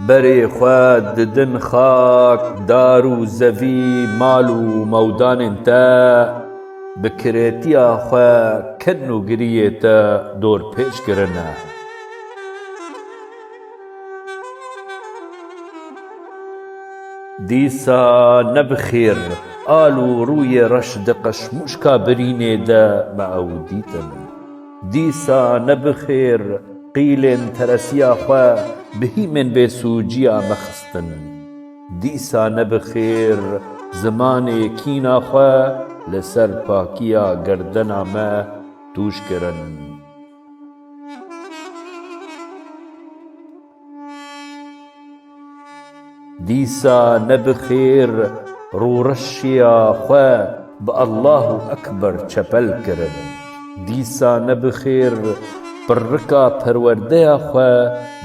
Berê xwe didin xak, dar û zevî, mal û mewdanên te bi kiretiya xwe kin û giriyê te dorpêç kirine. Dîsa ne bi xêr al û rûyê reş di qeşmûşka birînê de me ew dîtin. Dîsa ne bi xêr qîlên teresiya xwe bi hîmên bêsûciya me xistin. Dîsa ne bi xêr zimanê kîna xwe li ser pakiya gerdena me tûj kirin. Dîsa ne bi xêr rûreşiya xwe bi Allah û Ekber çepel kirin. Dîsa ne bi xêr pirrika perwerdeya xwe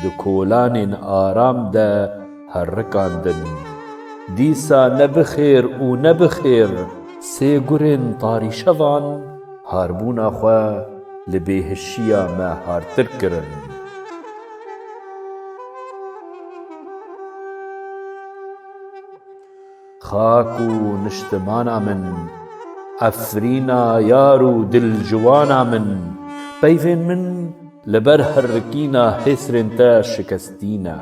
di kolanên aram de herrikandin. Dîsa ne bi xêr û ne bi xêr sê gurên tarîşevan harbûna xwe li bêhişiya me hartir kirin. Xak û niştimana min, Efrîna yar û dilciwana min, Peyvên min li ber herikîna hêsrên te şikestî ne.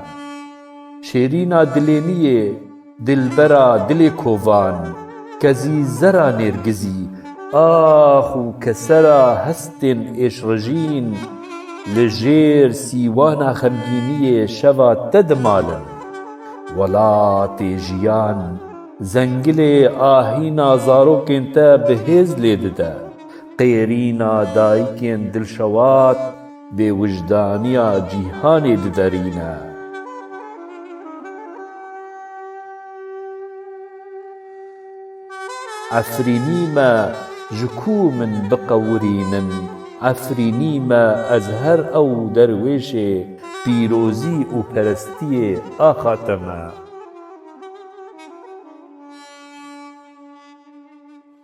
Şêrîna dilê niyê. Dilbera dilê kovan, kezî zera nêrgizî, ax û kesera hestên êşrijîn, li jêr sîwana xemgîniyê şeva te dimal in. Welatê jiyan, zengilê ahîna zarokên te bi hêz lê dide, qêrîna dayikên dilşewat, Bêwijdaniya cîhanê diderîne. Efrînî me ji ku min biqewirînin. Efrînî me ez her ew derwêşê pîrozî û perestiyê axa te me.